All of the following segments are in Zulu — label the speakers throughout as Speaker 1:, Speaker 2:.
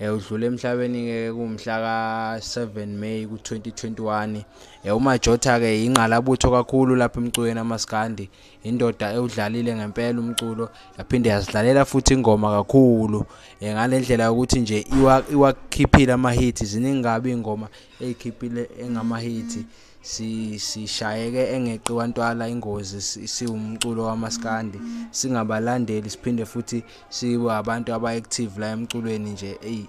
Speaker 1: Eh, udlule emhlabeni-ke kumhla ka-7 May ku-2021 eh, umajotha-ke yingqalabutho kakhulu lapha emculweni amaskandi indoda ewudlalile ngempela umculo yaphinde yazidlalela futhi ingoma kakhulu eh, ngale ndlela yokuthi nje iwakhiphile amahithi ziningi kabi iy'ngoma ey'khiphile engamahithi sishayeke engeqi wantwala ingozi siwumculo wamaskandi singabalandeli siphinde futhi sibe abantu aba-active la emculweni nje eyi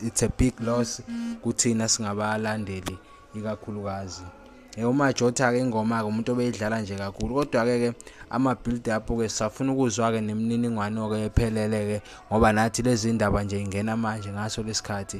Speaker 1: it's a big loss kuthina singabalandeli ikakhulukazi Eh, umajotha-ke ingoma-ke umuntu obeyidlala nje kakhulu kodwa-ke ke ama-build up-ke sisafuna ukuzwa-ke nemininingwane-ke ephelele-ke ngoba nathi lezi ndaba nje ingena manje ngaso lesikhathi